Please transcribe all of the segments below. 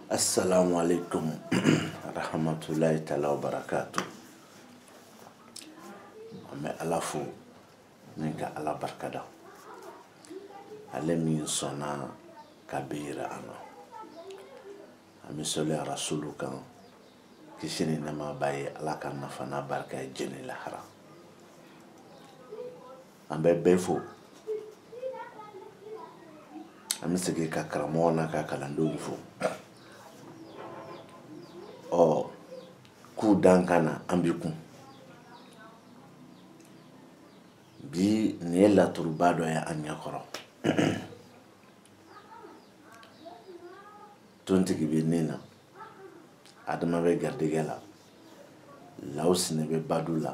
assalamu alaikum rahmatulahi taala wa barakatu an bɛ ala fo ni ka ala barikada ale min sɔnna ka bi yira an na an bɛ sɔli arasulu kan kisi ni nɛma b'a ye ala k'an nafa n'a barika ye jɛn ni lahara an bɛ bɛɛ fo an bɛ segin ka karamɔgɔ n'a ka kalandenw fo ɔ k'u dan ka na an bɛ kun bi nin ye laturuba dɔ ye an ɲɛkɔrɔ tontigi bɛ nin na adama bɛ garijɛgɛ la lawsinɛ bɛ badu la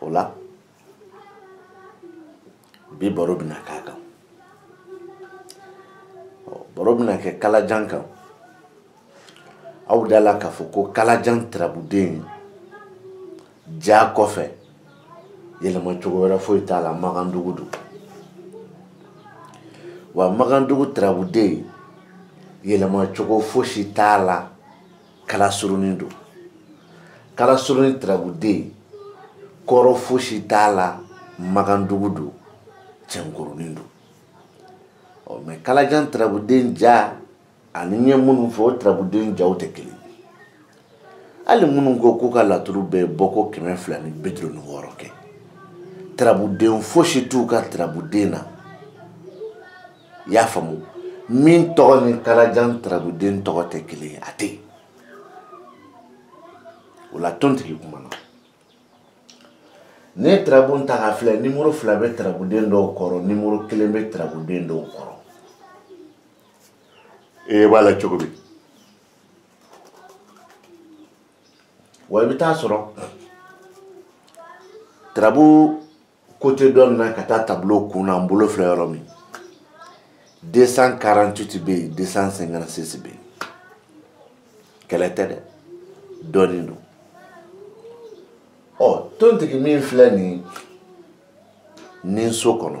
o la bi baro bɛna k'a kan baro bɛna kɛ kalajan kan aw da la k'a fɔ ko kalajan tarabuden ja kɔfɛ yɛlɛma cogo wɛrɛ foyi t'a la magandugu don wa magandugu tarabuden yɛlɛma cogo fosi t'a la kalasurunin don kalasurunin tarabuden kɔrɔ fosi t'a la magandugu don cɛnkurunin don ɔ mɛ kalajan tarabuden ja ani n ye minnu fɔ o tarabuden jaw tɛ kelen hali minnu ko k'u ka laturu bɛɛ bɔ ko kɛmɛ fila ni bi duuru ni wɔɔrɔ kɛ tarabuden fosi t'u ka tarabuden na i y'a faamu min tɔgɔ ni kalajan tarabuden tɔgɔ tɛ kelen ye a tɛ yen o la tontigi kumana ne ye tarabu ta k'a filɛ nimoro fila bɛ tarabuden dɔw kɔrɔ nimoro kelen bɛ tarabuden dɔw kɔrɔ ee b'a la cogo min wa i bɛ taa sɔrɔ tarabu côté dɔ nin na ka taa tableau kun na n bolo filɛ yɔrɔ min 248 bɛ yen 256 bɛ yen kɛlɛ tɛ dɛ dɔɔnin don ɔ tontigi min filɛ nin ninso kɔnɔ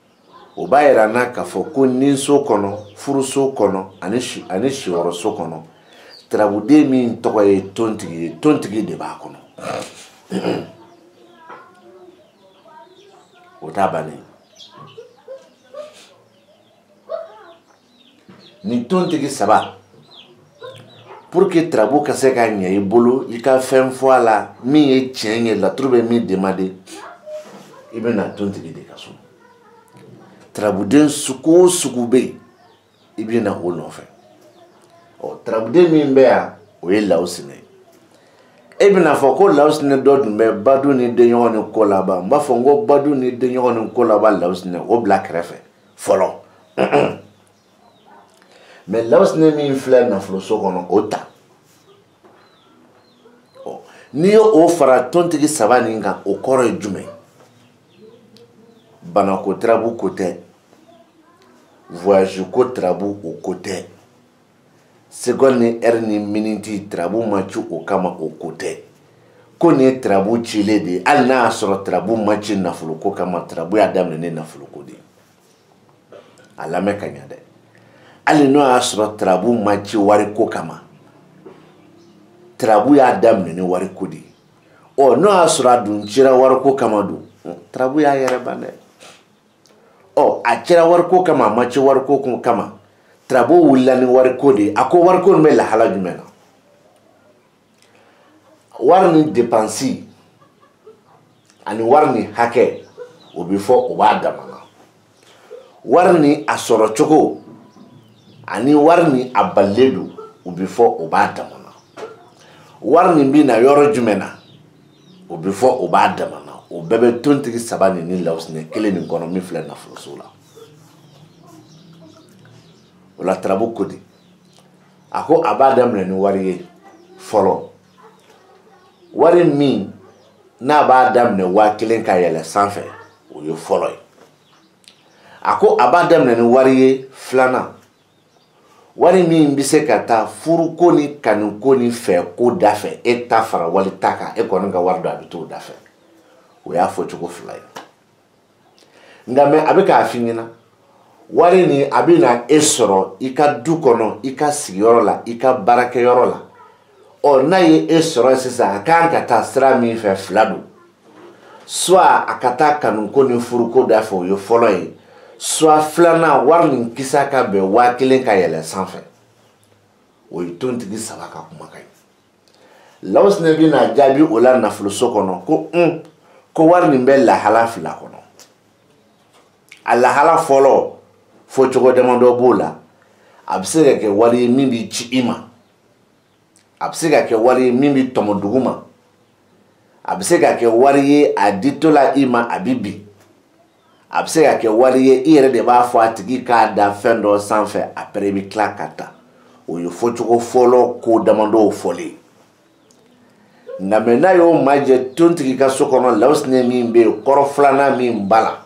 o b'a yira an na k'a fɔ ko ninso kɔnɔ furuso kɔnɔ ani ani siyɔrɔso kɔnɔ tarabuden min tɔgɔ ye tontigi ye tontigi de b'a kɔnɔ o t'a bannen nin tontigi saba pour que tarabu ka se ka ɲɛ i bolo i ka fɛn fɔ a la min ye tiɲɛ ye laturu bɛ min demande i bɛ na tontigi de ka so tarabuden sugu o sugu bɛ yen i bɛ na o nɔfɛ ɔ tarabuden min bɛ yan o ye lawusinɛ ye e bɛna fɔ ko lawusinɛ dɔ dun bɛ badu ni denɲɔgɔn ni ko laban n b'a fɔ n ko badu ni denɲɔgɔn ni ko laban lawusinɛ o bila kɛrɛfɛ fɔlɔ mais lawusinɛ min filɛ nafoloso kɔnɔ o ta n'i ye o fara tontigi saba nin kan o kɔrɔ ye jumɛn banako tarabu ko tɛ voyage ko tarabu o ko tɛ seconde ni heure ni miniti tarabu ma ci o kama o ko tɛ ko nin ye tarabu cilen de ye hali n'a y'a sɔrɔ tarabu ma ci nafoloko kama tarabu y'a daminɛ ni nafoloko de ye a lamɛn ka ɲa dɛ hali n'o y'a sɔrɔ tarabu ma ci wariko kama tarabu y'a daminɛ ni wariko de ye ɔ n'o y'a sɔrɔ a dun cira wariko kama don tarabu y'a yɛrɛ ban dɛ ɔ a cira wariko kama a ma ci wariko kama tarabu wulila ni wariko de ye a ko wariko nin bɛ lahala jumɛn na wari ni depansi ani wari ni hakɛ o bɛ fɔ o b'a dama na wari ni a sɔrɔ cogo ani wari ni a balilen don o bɛ fɔ o b'a dama na wari nin bɛ na yɔrɔ jumɛn na o bɛ fɔ o b'a dama na o bɛɛ bɛ tontigi saba nin ni lawusinɛ kelen nin kɔnɔ min filɛ nafoloso la o la tarabu ko di a ko a b'a daminɛ ni wari ye fɔlɔ wari min n'a b'a daminɛ waa kelen ka yɛlɛ sanfɛ o ye fɔlɔ ye a ko a b'a daminɛ ni wari ye filanan wari min bɛ se ka taa furuko ni kanuko ni fɛko da fɛ e ta fara wali ta kan e kɔni ka wari don a bɛ t'o da fɛ o y'a fɔcogo fila ye nka mais a bɛ k'a f'i ɲɛna wari nin a bɛ na e sɔrɔ i ka du kɔnɔ i ka sigiyɔrɔ la i ka baarakɛyɔrɔ la ɔ n'a ye e sɔrɔ sisan a kan ka taa sira min fɛ fila don soit a ka taa kanuko ni furuko da fɛ o ye fɔlɔ ye soit filanan wari nin kisa ka bɛn waa kelen ka yɛlɛ sanfɛ o ye tontigi saba ka kumakan ye lawusinɛ bɛna jaabi o la nafoloso kɔnɔ ko un ko wari nin bɛ lahala fila kɔnɔ a lahala fɔlɔ fɔcogo damadɔ b'o la a bɛ se ka kɛ wari ye min bɛ ci i ma a bɛ se ka kɛ wari ye min bɛ tɔmɔ dugu ma a bɛ se ka kɛ wari ye a ditɔla i ma a bɛ bin a bɛ se ka kɛ wari ye i yɛrɛ de b'a fɔ a tigi k'a da fɛn dɔ sanfɛ après i bɛ tila k'a ta o ye fɔcogo fɔlɔ ko damadɔw fɔlen nka mɛ n'a y'o majɛ tontigi ka so kɔnɔ lawusinɛ min bɛ yen kɔrɔ filanan min b'a la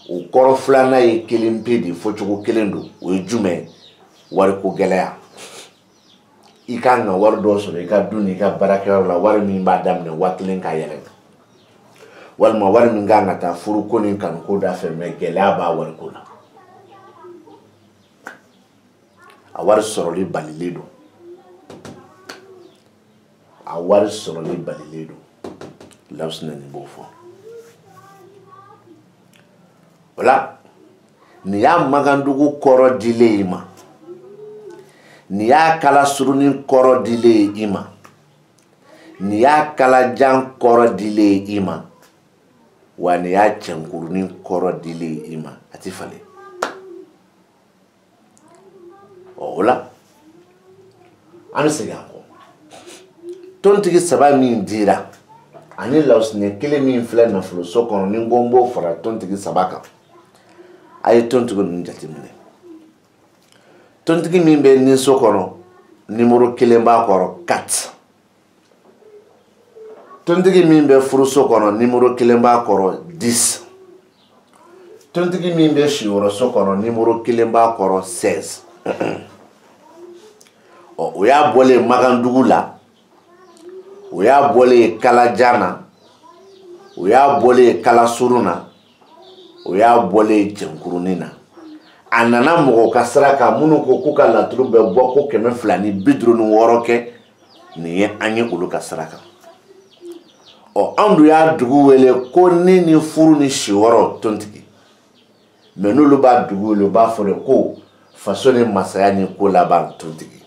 o kɔrɔ filanan ye kelen pe de fɔcogo kelen don o ye jumɛn wariko gɛlɛya i ka kan ka wari dɔ sɔrɔ i ka du ni i ka baarakɛyɔrɔ la wari min b'a daminɛ waa kelen ka yɛlɛ walima wari min ka kan ka taa furuko ni kanuko da fɛ mɛ gɛlɛya b'a wariko la a wari sɔrɔli balilen don a wari sɔrɔli balilen don lawusinɛ nin b'o fɔ o la nin y'a magandugu kɔrɔ dilen i ma nin y'a kalasurunin kɔrɔ dilen i ma nin y'a kalajan kɔrɔ dilen i ma wa nin y'a cɛnkurunin kɔrɔ dilen i ma a ti falen ɔ o la an bɛ segin an kɔ tontigi saba min dira ani lawusinɛ kelen min filɛ nafoloso kɔnɔ ni n ko n b'o fara tontigi saba kan a ye tontigi ninnu jateminɛ tontigi min bɛ ninso kɔnɔ nimoro kelen b'a kɔrɔ quatre tontigi min bɛ furuso kɔnɔ nimoro kelen b'a kɔrɔ dix tontigi min bɛ siyɔrɔso kɔnɔ nimoro kelen b'a kɔrɔ seize ɔ o y'a bɔlen magandugu la o y'a bɔlen kalajan na o y'a bɔlen kalasurun na o y'a bɔlen cɛnkurunin na a nana mɔgɔ ka sira kan minnu ko k'u ka laturu bɛ bɔ ko kɛmɛ fila ni bi duuru ni wɔɔrɔ kɛ nin ye an ye olu ka sira kan ɔ anw dun y'a dugu wele ko ni ni furu ni siyɔrɔ tontigi mɛ n'olu b'a dugu wele u b'a fɔ de ko faso ni masaya ni ko laban tontigi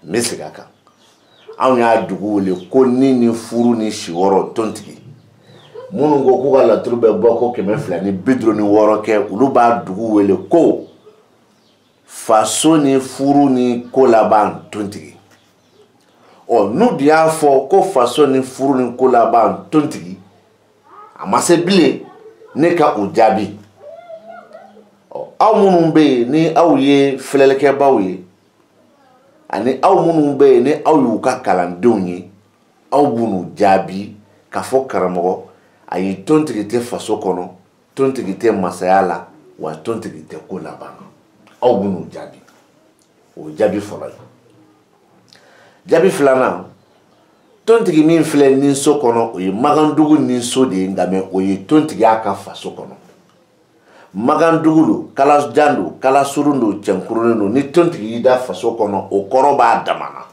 n bɛ segin a kan anw y'a dugu wele ko ni ni furu ni siyɔrɔ tontigi minnu ko k'u ka laturu bɛ bɔ ko kɛmɛ fila ni bi duuru ni wɔɔrɔ kɛ olu b'a dugu wele ko faso ni furu ni ko laban tontigi ɔ n'u de y'a fɔ ko faso ni furu ni ko laban tontigi a ma se bilen ne ka o jaabi ɔ aw minnu bɛ yen ni aw ye filɛlikɛbaaw ye ani aw minnu bɛ yen ni aw y'u ka kalandenw ye aw b'olu jaabi k'a fɔ karamɔgɔ a ye tontigi tɛ faso kɔnɔ tontigi tɛ masaya la wa tontigi tɛ ko laban aw b'u jaabi o jaabi fɔlɔ ye jaabi filanan tontigi min filɛ ninso kɔnɔ o ye magandugu ninso de ye nka mɛ o ye tontigi y'a ka faso kɔnɔ magandugu don kalajan don kalasurun don cɛnkurunin don ni tontigi y'i da faso kɔnɔ o kɔrɔ b'a damana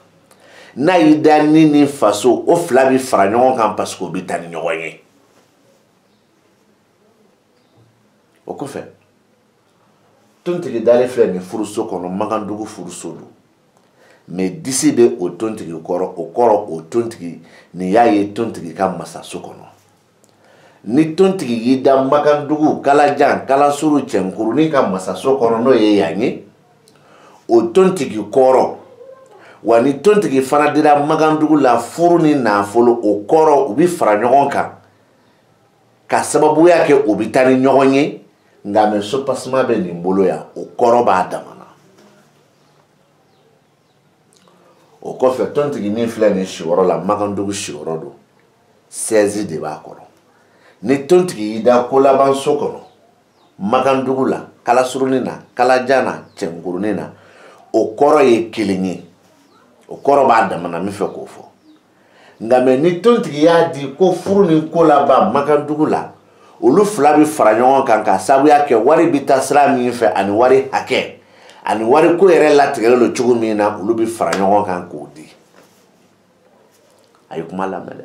n'a y'i da ni ni faso o fila bɛ fara ɲɔgɔn kan parce que o bɛ taa ni ɲɔgɔn ye o kɔfɛ tontigi dalen filɛ nin furuso kɔnɔ magandugu furuso don mɛ disi bɛ o tontigi kɔrɔ o kɔrɔ o tontigi nin y'a ye tontigi ka masaso kɔnɔ ni tontigi y'i da magandugu kalajan kalasuru cɛnkurunin ka masaso kɔnɔ n'o ye yan ye o tontigi kɔrɔ wa ni tontigi fana dira magandugu la furu ni nafolo o kɔrɔ u bɛ fara ɲɔgɔn kan k'a sababuya kɛ o bɛ taa ni ɲɔgɔn ye nka mɛ sopasima bɛ nin bolo yan o kɔrɔ b'a damana o kɔfɛ tontigi min filɛ nin siyɔrɔ la magandugu siyɔrɔ don sɛzi de b'a kɔrɔ ni tontigi y'i da kolabanso kɔnɔ magandugu la kalasurunin na kalajan na cɛnkurunin na o kɔrɔ ye kelen ye o kɔrɔ b'a damana min fɛ k'o fɔ nka mɛ ni tontigi y'a di ko furu ni ko laban magandugu la olu fila bɛ fara ɲɔgɔn kan ka sabuya kɛ wari bɛ taa sira min fɛ ani wari hakɛ ani wari ko yɛrɛ latigɛlen don cogo min na olu bɛ fara ɲɔgɔn kan k'o di a ye kuma lamɛn dɛ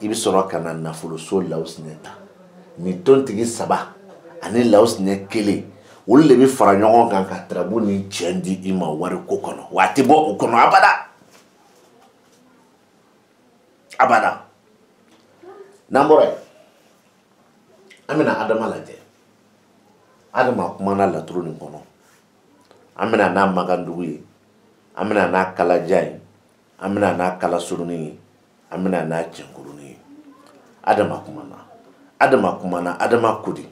i bɛ sɔrɔ ka na nafoloso lawusinɛ ta ni tontigi saba ani lawusinɛ kelen olu de bɛ fara ɲɔgɔn kan ka tarabu ni cɛn di i ma wariko kɔnɔ wa a tɛ bɔ o kɔnɔ abada abada n'an bɔra yen an bɛna adama lajɛ adama kumana laturu nin kɔnɔ an bɛna n'a magandugu ye an bɛna n'a kalajan ye an bɛna n'a kalasurunin ye an bɛna n'a cɛnkurunin ye adama kumana adama kumana adama ko di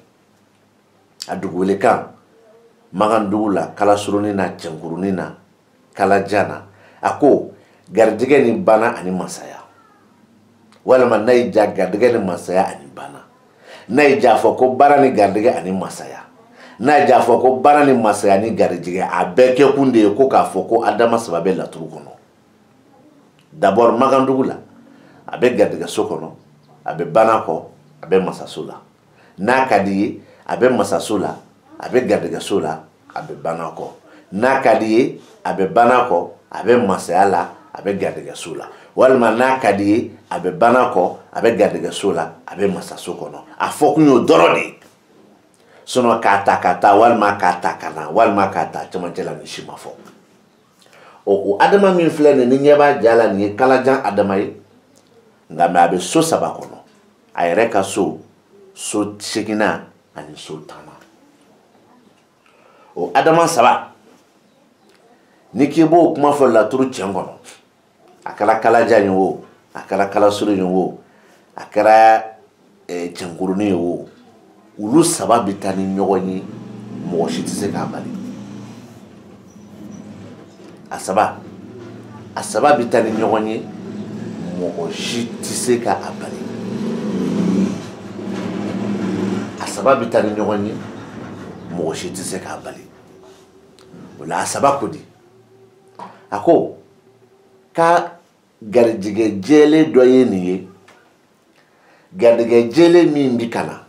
a dugukolokan magandugu la kalasurunin na cɛnkurunin na kalajan na a ko garijɛgɛ ni bana ani masaya walima n'a y'i diya garijɛgɛ ni masaya ani bana n'a y'i diya a fɔ ko baara ni garijɛgɛ ani masaya n'a y'i diya a fɔ ko baara ni masaya ni garijɛgɛ a bɛɛ kɛkun de ye ko k'a fɔ ko adama saba bɛ laturu kɔnɔ d'abord magandugu la a bɛ garijɛgɛso kɔnɔ a bɛ bana kɔ a bɛ masaso la n'a ka di ye a bɛ masaso la a bɛ garijɛgɛso la a bɛ bana kɔ n'a ka di ye a bɛ bana kɔ a bɛ masaya la a bɛ garijɛgɛso la walima n'a ka di ye a bɛ bana kɔ a bɛ garijɛgɛso la a bɛ masaso kɔnɔ a fɔ kun y'o dɔrɔn de ye sinɔn k'a ta ka taa walima k'a ta ka na walima k'a ta cɛmancɛ la nin si ma fɔ ɔ o adama min filɛ nin n'i ɲɛ b'a ja la nin ye kalajan adama ye nka mɛ a bɛ so saba kɔnɔ a yɛrɛ ka so so seeginnan ani so tannan o adama saba n'i k'i b'o kuma fɔ laturu tiɲɛ kɔnɔ a kɛra kalajan ye o a kɛra kalasuru ye o a kɛra eh, cɛnkurunin ye o olu saba bɛ taa ni ɲɔgɔn ye mɔgɔ si tɛ se k'a bali a saba a saba bɛ taa ni ɲɔgɔn ye mɔgɔ si tɛ se k'a bali a saba bɛ taa ni ɲɔgɔn ye mɔgɔ si tɛ se k'a bali o la a saba ko di a ko ka garijɛgɛ jɛlen dɔ ye nin ye garijɛgɛ jɛlen min bɛ ka na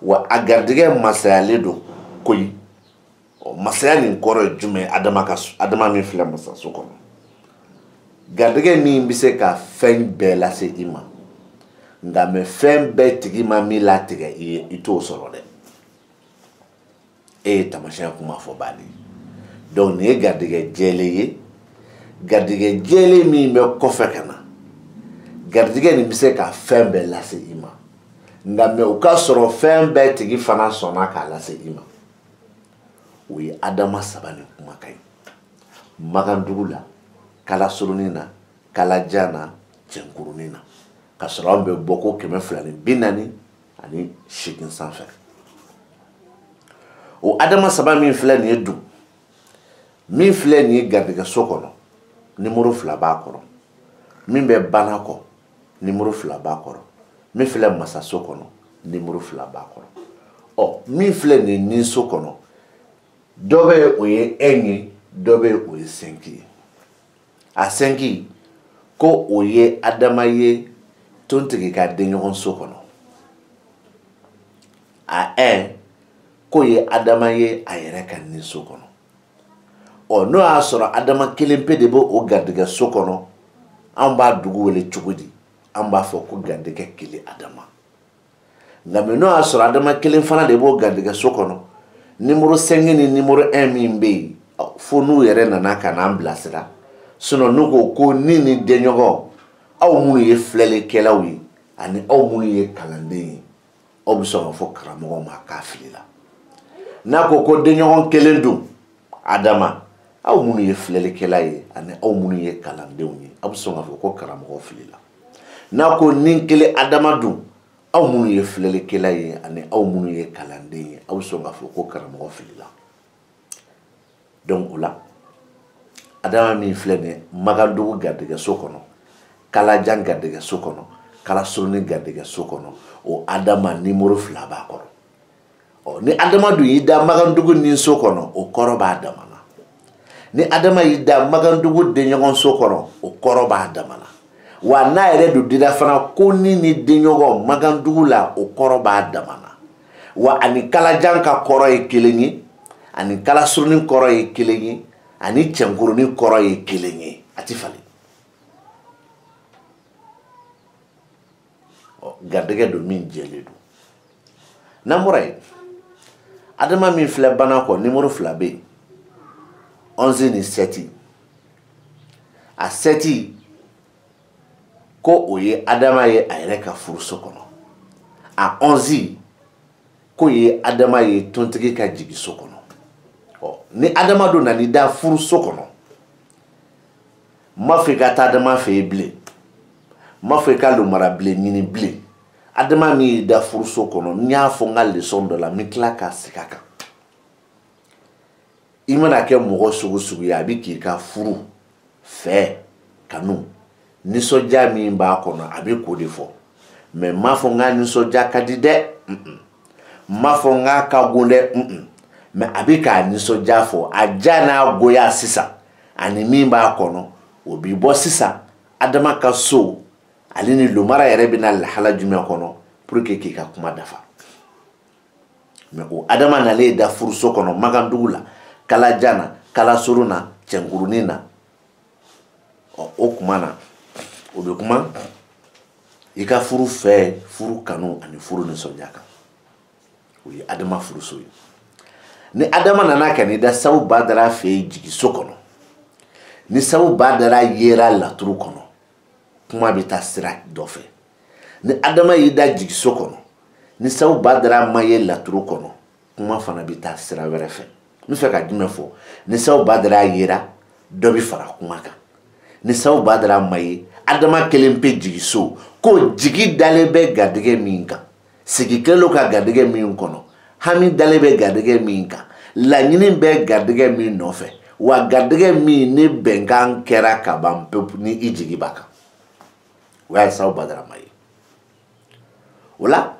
wa a garijɛgɛ masayalen don koyi masaya nin kɔrɔ ye jumɛn adama min filɛ masaso kɔnɔ garijɛgɛ min bɛ se ka fɛn bɛɛ lase i ma nka mɛ fɛn bɛɛ tigi ma min latigɛ i ye i t'o sɔrɔ dɛ e ye taamasiyɛn kuma fɔ baden donc nin ye garijɛgɛ jɛlen ye garijɛgɛ jɛlen min bɛ kɔfɛ ka na garijɛgɛ nin bɛ se ka fɛn bɛɛ lase i ma nka mɛ o ka sɔrɔ fɛn bɛɛ tigi fana sɔnna k'a lase i ma o ye adama saba nin kumakan ye magandugu la kalasurunin na kalajan na cɛnkurunin na ka sɔrɔ an bɛ bɔ ko kɛmɛ fila ni bi naani ani seegin sanfɛ o adama saba min filɛ nin ye dun min filɛ nin ye garijɛgɛso kɔnɔ nimoro fila b'a kɔrɔ min bɛ bana kɔ nimoro fila b'a kɔrɔ min filɛ masaso kɔnɔ nimoro fila b'a kɔrɔ ɔ min filɛ nin ye ninso kɔnɔ dɔ bɛ o ye ɛn ye dɔ bɛ o ye sɛnki ye a sɛnki ko o ye adama ye tontigi ka denɲɔgɔnso kɔnɔ a ɛn k'o ye adama ye a yɛrɛ ka ninso kɔnɔ ɔ n'o y'a sɔrɔ adama kelen pe de bɛ o garijɛgɛso kɔnɔ an b'a dugu wele cogo di an b'a fɔ ko garijɛgɛ kelen adama nka mɛ n'o y'a sɔrɔ adama kelen fana de b'o garijɛgɛso kɔnɔ nimoro sɛngi ni nimoro ɛn min bɛ yen fo n'u yɛrɛ nana ka n'an bilasira sinɔ n'u ko ko ni ni denɲɔgɔn aw minnu ye filɛlikɛlaw ye ani aw minnu ye kalanden ye aw bɛ sɔn k'a fɔ karamɔgɔ ma k'a filila n'a ko ko denɲɔgɔn kelen dun adama aw minnu ye filɛlikɛla ye ani aw minnu ye kalandenw ye aw bɛ sɔn k'a fɔ ko karamɔgɔ filila n'a ko ni kelen adama dun aw minnu ye filɛlikɛla ye ani aw minnu ye kalanden ye aw bɛ sɔn k'a fɔ ko karamɔgɔ filila donc o la adama min filɛ nin ye magandugu garijɛgɛso kɔnɔ kalajan garijɛgɛso kɔnɔ kalasurunin garijɛgɛso kɔnɔ o adama nimoro fila b'a kɔrɔ ɔ ni adama dun y'i da magandugu ni so kɔnɔ o kɔrɔ b'a dama na ni adama y'i da magandugu denɲɔgɔn so kɔnɔ o kɔrɔ b'a dama na wa n'a yɛrɛ dun dira fana ko ni ni denɲɔgɔn magandugu la o kɔrɔ b'a dama na wa ani kalajan ka kɔrɔ ye kelen ye ani kalasurunin kɔrɔ ye kelen ye ani cɛnkurunin kɔrɔ ye kelen ye a ti falen garijɛgɛ don min jɛlen don n'an bɔra yen adama min filɛ bana kɔ nimoro fila bɛ yen ɔnzi ni sɛti a sɛti ko o ye adama ye a yɛrɛ ka furuso kɔnɔ a ɔnzi k'o ye adama ye tontigi ka jigiso kɔnɔ ɔ ni adama dun nana i da furuso kɔnɔ n m'a fɔ i ka taa adama fɛ yen bilen n m'a fɔ i ka lomara bilen ɲini bilen adama min y'i da furuso kɔnɔ n y'a fɔ n ka lesɔn dɔ la n bɛ tila ka segin a kan i mana kɛ mɔgɔ sugu sugu ye a bɛ k'i ka furu fɛ kanu nisɔndiya min b'a kɔnɔ a bɛ k'o de fɔ mɛ n m'a fɔ n k'a nisɔndiya ka di dɛ n m'a fɔ n k'a ka go dɛ mɛ a bɛ k'a nisɔndiya fɔ a diya n'a goya sisan ani min b'a kɔnɔ o bɛ bɔ sisan adama ka so ale ni lomara yɛrɛ bɛna lahala jumɛn kɔnɔ pour que k'i ka kuma dafa mɛ o adama nalen da furuso kɔnɔ magandugu la kalajan na kalasurun na cɛnkurunin na o kuma na o bɛ kuma i ka furu fɛ furu kanu ani furu nisɔndiya kan o ye adama furuso ye ni adama nana ka n'i da sabu badara fɛ yen jigiso kɔnɔ ni sabu badara yera laturu kɔnɔ kuma bɛ taa sira dɔ fɛ ni adama y'i da jigiso kɔnɔ ni sabu badara ma ye laturu kɔnɔ kuma fana bɛ taa sira wɛrɛ fɛ n bɛ fɛ ka jumɛn fɔ ni sabu badara yera dɔ bɛ fara kuma kan ni sabu badara ma ye adama kelen pe jigiso ko jigi dalen bɛ garijɛgɛ min kan sigi kɛlen don ka garijɛgɛ min kɔnɔ hami dalen bɛ garijɛgɛ min kan laɲini bɛ garijɛgɛ min nɔfɛ wa garijɛgɛ min ni bɛnkan kɛra ka ban pewu ni i jigi b'a kan o y'a ye sabu badara ma ye o la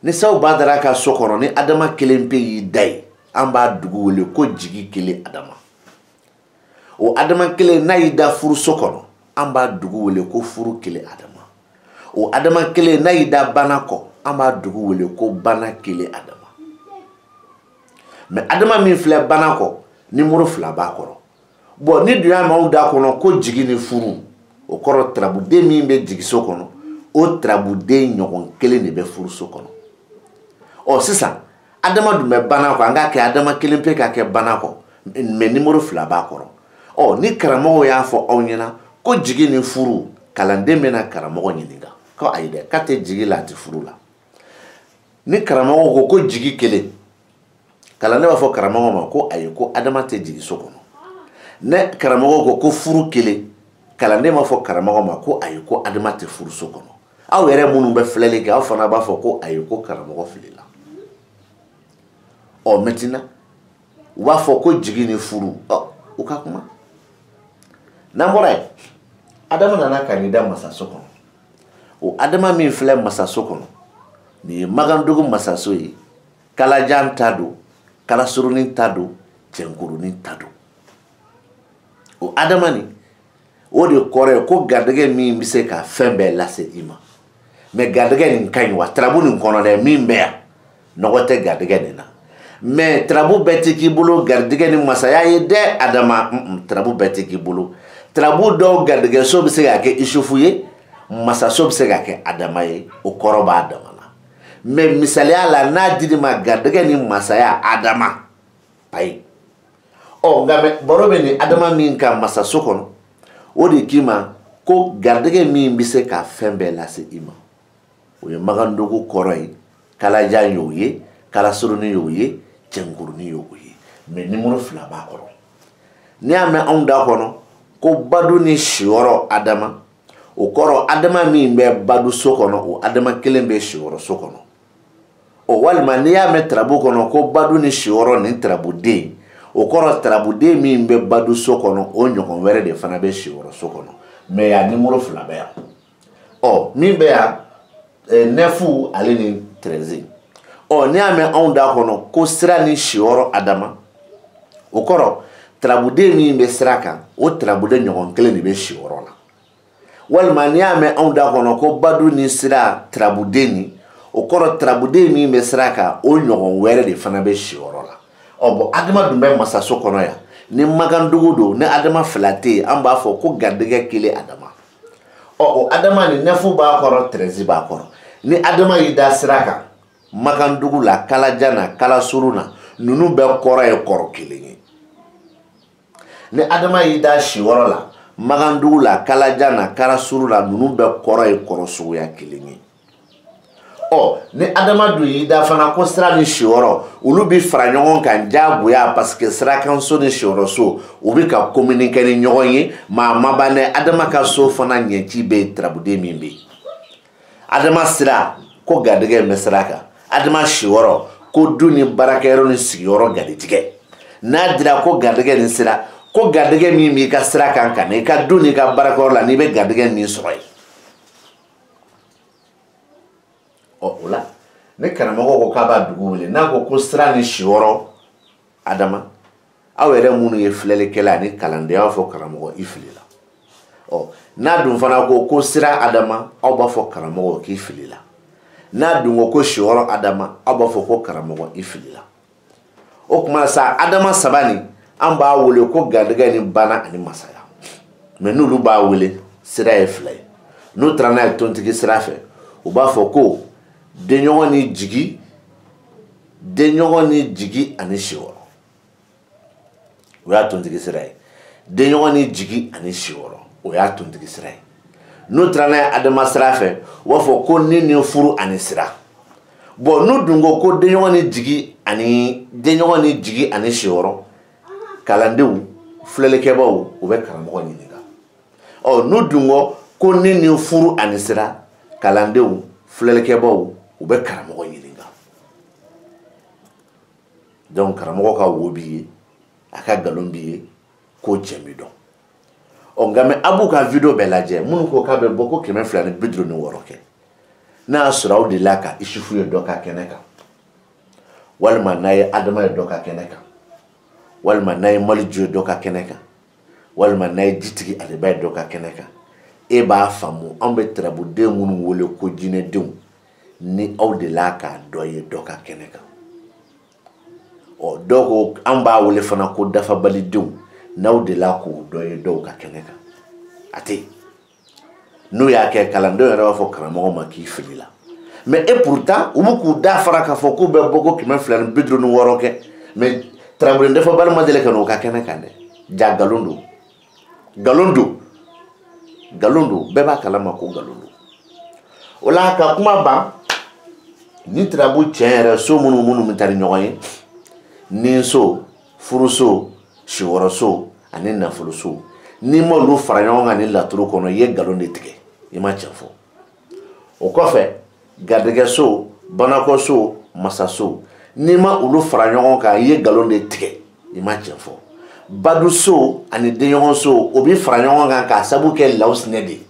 ni sabu badara ka so kɔnɔ ni adama kelen pe y'i da yen an b'a dugu wele ko jigi kelen adama o adama kelen n'a y'i da furuso kɔnɔ an b'a dugu wele ko furu kelen adama o adama kelen n'a y'i da bana kɔ an b'a dugu wele ko bana kelen adama mɛ adama min filɛ bana kɔ nimoro fila b'a kɔrɔ bɔn n'i dun y'a mɛn anw da kɔnɔ ko jigi ni furu o kɔrɔ tarabuden min bɛ jigiso kɔnɔ o tarabuden ɲɔgɔn kelen de bɛ furuso kɔnɔ ɔ sisan adama dun bɛ bana kɔ an k'a kɛ adama kelen pe k'a kɛ bana kɔ mɛ nimoro fila b'a kɔrɔ ɔ ni karamɔgɔw y'a fɔ aw ɲɛna ko jigi ni furu kalanden bɛna karamɔgɔ ɲininka ko ayi dɛ k'a tɛ jigi la a tɛ furu la ni karamɔgɔ ko ko jigi kelen kalanden b'a fɔ karamɔgɔ ma ko ayi ko adama tɛ jigi so kɔnɔ ni karamɔgɔ ko ko furu kelen kalanden b'a fɔ karamɔgɔ ma ko ayi ko adama tɛ furu so kɔnɔ aw yɛrɛ minnu bɛ filɛli kɛ aw fana b'a fɔ ko ayi ko karamɔgɔ filila ɔ mɛntɛnan u b'a fɔ ko jigi ni furu ɔ u ka kuma n'an bɔra yen adama nana ka n'i da masa so kɔnɔ o adama min filɛ masaso kɔnɔ nin ye magandugu masaso ye kalajan ta don kalasurunin ta don cɛnkurunin ta don o adama nin o de kɔrɔ ye ko garijɛgɛ min bɛ se ka fɛn bɛɛ lase i ma mɛ garijɛgɛ nin ka ɲi wa tarabu nin kɔnɔ dɛ min bɛ yan nɔgɔ tɛ garijɛgɛ nin na mɛ tarabu bɛɛ tɛ k'i bolo garijɛgɛ ni masaya ye dɛ adama tarabu bɛɛ tɛ k'i bolo tarabu dɔw garijɛgɛso bɛ se ka kɛ isufu ye masaso bɛ se ka kɛ adama ye o kɔrɔ b'a dama na mɛ misaliya la n'a dir'i ma garijɛgɛ ni masaya adama ayi ɔ nka mɛ baro bɛ nin adama min kan masaso kɔnɔ o de k'i ma ko garijɛgɛ min bɛ se ka fɛn bɛɛ lase i ma o ye magandugu kɔrɔ ye kalajan y'o ye kalasurunin y'o ye cɛnkurunin y'o ye mɛ nimoro fila b'a kɔrɔ n'i y'a mɛn anw da kɔnɔ ko badu ni siyɔrɔ adama o kɔrɔ adama min bɛ badu so kɔnɔ o adama kelen bɛ siyɔrɔ so kɔnɔ o walima n'i y'a mɛn tarabu kɔnɔ ko badu ni siyɔrɔ ni tarabuden o kɔrɔ tarabuden min bɛ badu so kɔnɔ o ɲɔgɔn wɛrɛ de fana bɛ siyɔrɔ so kɔnɔ mɛ yan nimoro fila bɛ yan ɔ min bɛ yan eh, nɛfu ale ni tɛrɛzi ɔ n'i y'a mɛn anw da kɔnɔ ko sira ni siyɔrɔ adama o kɔrɔ tarabuden min bɛ sira kan o tarabuden ɲɔgɔn kelen de bɛ siyɔrɔ la walima n'i y'a mɛn anw da kɔnɔ ko badu ni sira tarabuden ni o kɔrɔ tarabuden min bɛ sira kan o ɲɔgɔn wɛrɛ de fana bɛ siyɔrɔ la ɔ bon adama dun bɛ masaso kɔnɔ yan ni makandugu don ni adama fila tɛ yen an b'a fɔ ko garijɛgɛ kelen adama ɔ o adama ni nɛfu b'a kɔrɔ tɛrɛzi b'a kɔrɔ ni adama y'i da sira kan makandugu la kalajan na kalasuru na ninnu bɛɛ kɔrɔ ye kɔrɔ kelen ye ni adama y'i da siyɔrɔ la makandugu la kalajan na kalasuru la ninnu bɛɛ kɔrɔ ye kɔrɔ suguya kelen ye ɔ ni adama dun y'i da fana ko sira ni siyɔrɔ olu bɛ fara ɲɔgɔn kan diyagoya parce que sirakanso ni siyɔrɔso u bɛ ka communiquer ni ɲɔgɔn ye mais a ma ban dɛ adama ka so fana ɲɛci bɛ tarabuden min bɛ adama sira ko garijɛgɛ bɛ sira kan adama siyɔrɔ ko du ni baarakɛyɔrɔ ni sigiyɔrɔ garijɛgɛ n'a dira ko garijɛgɛ ni sira ko garijɛgɛ min b'i ka sira kan ka na i ka du n'i ka baarakɛyɔrɔ la n'i bɛ garijɛgɛ min sɔrɔ yen ɔ o la ni karamɔgɔ ko k'a b'a dugu wele n'a ko ko sira ni siyɔrɔ adama aw yɛrɛ minnu ye filɛlikɛla ani kalanden aw fɔ karamɔgɔ i filila ɔ n'a dun fana ko ko sira adama aw b'a fɔ karamɔgɔ k'i filila n'a dun ko ko siyɔrɔ adama aw b'a fɔ ko karamɔgɔ i filila o tuma sa adama saba nin an b'a wele ko garijɛgɛ ni bana ani masaya mais n'olu b'a wele sira ye fila ye n'u taara n'a ye tontigi sira fɛ u b'a fɔ ko denɲɔgɔn ni jigi denɲɔgɔn ni jigi ani siyɔrɔ o y'a tontigi sira ye denɲɔgɔn ni jigi ani siyɔrɔ o y'a tontigi sira ye n'u taara n'a ye adama sira fɛ u b'a fɔ ko ni ni furu ani sira bon n'u dun ko ko denɲɔgɔn ni jigi ani denɲɔgɔn ni jigi ani siyɔrɔ kalandenw filɛlikɛbaaw u bɛ karamɔgɔ ɲininka ɔ n'u dun ko ko ni ni furu ani sira kalandenw filɛlikɛbaaw u bɛ karamɔgɔ ɲininka donc karamɔgɔ ka wo b'i ye a ka nkalon b'i ye k'o cɛ m'i dɔn ɔ nka mais aw b'u ka video bɛɛ lajɛ minnu ko k'a bɛ bɔ ko kɛmɛ fila ni bi duuru ni wɔɔrɔ kɛ n'a y'a sɔrɔ aw delila ka isufu ye dɔ ka kɛnɛ kan walima n'a ye adama ye dɔ ka kɛnɛ kan walima n'a ye maliju ye dɔ ka kɛnɛ kan walima n'a ye jitigi aliba ye dɔ ka kɛnɛ kan e b'a faamu an bɛ tarabuden minnu wele ko jinɛdenw ni aw delila k'a dɔ ye dɔ ka kɛnɛ kan ɔ dɔw ko an b'a wele fana ko dafabalidenw n'aw delila k'o dɔ ye dɔw ka kɛnɛ kan a tɛ n'u y'a kɛ kalandenw yɛrɛ b'a fɔ karamɔgɔ ma k'i filila mais et pourtant u bɛ k'u da fara k'a fɔ k'u bɛ bɔ ko kɛmɛ fila ni bi duuru ni wɔɔrɔ kɛ mais tarabuden dafabali ma deli ka n'o ka kɛnɛ kan dɛ jaa nkalon don nkalon don nkalon don bɛɛ b'a kalama ko nkalon don o la ka kuma ban ni tirabu tiɲɛ yɛrɛ so minnu minnu bɛ taa ni ɲɔgɔn ye niso furuso siyɔrɔso ani nafoloso n'i m'olu fara ɲɔgɔn kan ni laturu kɔnɔ i ye nkalon de tigɛ i ma tiɲɛ fɔ o kɔfɛ garijɛgɛso banakɔso masaso n'i ma olu fara ɲɔgɔn kan i ye nkalon de tigɛ i ma tiɲɛ fɔ baduso ani denɲɔgɔnso o bɛ fara ɲɔgɔn kan k'a sabu kɛ lawusinɛ de ye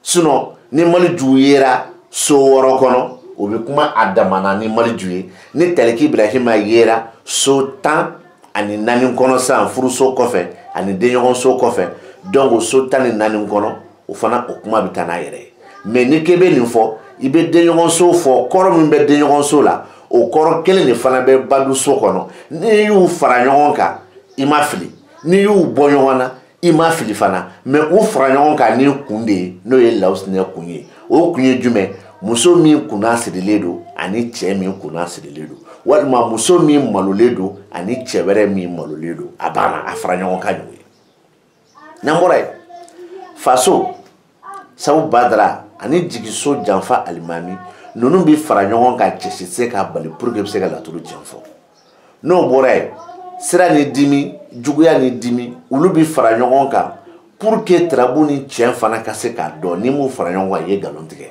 sinon ni maliju yera so wɔɔrɔ kɔnɔ o bɛ kuma a dama na ni maliju ye ni taliki ibrahima yera so tan ani naani kɔnɔ sisan furuso kɔfɛ ani denɲɔgɔnso kɔfɛ donc so tan ni naani kɔnɔ o fana o kuma bɛ taa n'a yɛrɛ ye mais ni k'e bɛ nin fɔ i bɛ denɲɔgɔnso fɔ kɔrɔ min bɛ denɲɔgɔnso la o kɔrɔ kelen de fana bɛ baduso kɔnɔ n'i y'u fara ɲɔgɔn kan i ma fili n'i y'u bɔ ɲɔgɔn na i ma fili fana mais u fara ɲɔgɔn kan ni kun de ye n'o ye lawusinɛ kun ye o kun ye jumɛn muso min kunna sirilen don ani cɛ min kunna sirilen don walima muso min malolen don ani cɛ wɛrɛ min malolen don a banna a fara ɲɔgɔn kan ɲɔgɔn ye n'an bɔra yen faso sabu badara ani jigiso janfa alimami ninnu bɛ fara ɲɔgɔn kan cɛ si se k'a bali pour que bɛ se ka laturu tiɲɛ fɔ n'o bɔra yen sira ni dimi juguya ni dimi olu bɛ fara ɲɔgɔn kan pour que tarabu ni tiɲɛ fana ka se k'a dɔn n'i m'u fara ɲɔgɔn kan i ye nkalon tigɛ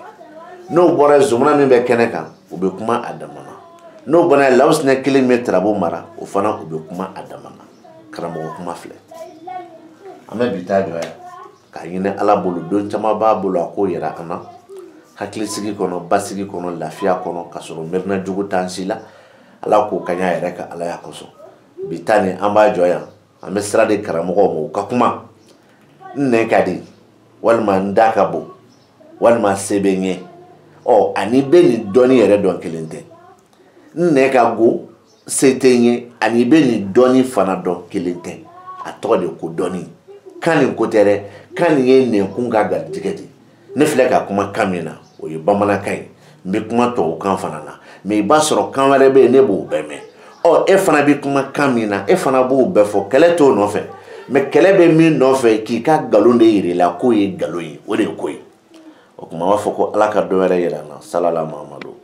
n'o bɔra yen zumana min bɛ kɛnɛ kan u bɛ kuma a dama na n'o bɔra yen lawusinɛ kelen min bɛ tarabu mara o fana u bɛ kuma a dama na karamɔgɔ kuma filɛ an bɛ bi ta jɔ yan k'a ɲini ala bolo don caman b'a bolo a k'o yira an na hakilisigi kɔnɔ basigi kɔnɔ lafiya kɔnɔ ka sɔrɔ miirina jugu t'an si la ala k'o k'an y'a yɛrɛ ka alaya kosɔn bi ta nin an b'a jɔ yan an bɛ sira di karamɔgɔw ma u ka kuma n nɛn ka di walima n da ka bon walima se bɛ n ye ɔ a n'i bɛ nin dɔnni yɛrɛ dɔn kelen tɛ n nɛn ka go se tɛ n ye ani i bɛ nin dɔnni fana dɔn kelen tɛ a tɔgɔ de ko dɔnni kan nin ko tɛ dɛ kan nin ye nɛnkun ka garijɛgɛ de ne filɛ ka kuma kan min na o ye bamanankan ye n bɛ kuma tubabukan fana na mais i b'a sɔrɔ kan wɛrɛ bɛ yen ne b'o bɛɛ mɛn ɔ e fana bɛ kuma kan min na e fana b'o bɛɛ fɔ kɛlɛ t'o nɔfɛ mais kɛlɛ bɛ min nɔfɛ k'i ka nkalon de yir'i la k'o ye nkalon ye o de ye ko ye o tuma b'a fɔ ko ala ka dɔ wɛrɛ yira an na salala muhamadu